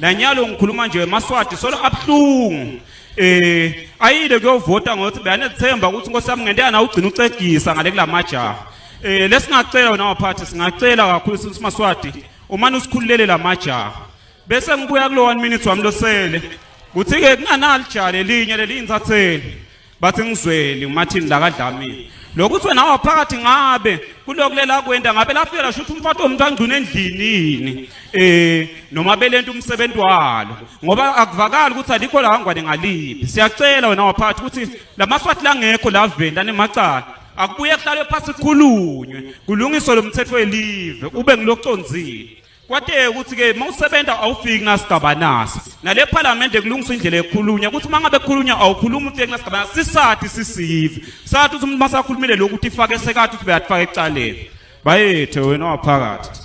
nanyalo ngikhuluma nje maswati solo abuhlungu eh ayile kuyovota ngokuthi beyanethemba ukuthi inkosi yami ngento yana ugcina ucegisa ngale kulamajaha eh lesingacela wena waphathi singacela kakhulu since maswati umane usikhululele lamajaha bese ngibuya kulo 1 minute wami losele kuthi ke kunganali jale linye leliyinsatheli bathi ngizweli umathini lakadlamini lokuthi wena waphakathi ngabe kulokulela kwenta ngabe lafika lasho ukuthi umfato womuntu angcuna endlini yini um noma belento umsebenzi walo ngoba akuvakali ukuthi alikho lahangwane ngaliphi siyacela wena waphakathi ukuthi la maswati langekho laveni lanemacala akubuye kuhlalwe phasi kukhulunywe kulungiswe lo mthetho welive ube ngiloconzile kwateke ukuthi ke mawusebenza awufiki nasigaba naso nale parliament kulungiswa indlela ekhulunywa ukuthi mangabe khulunywa awukhuluma umuntu kunasigaba sisathi sisive sathi ukuthi umuntu masakhulumile lokhu ukuthi ifake sekathi ukuthi beyatfaka ecaleni bayethe wena waphakathi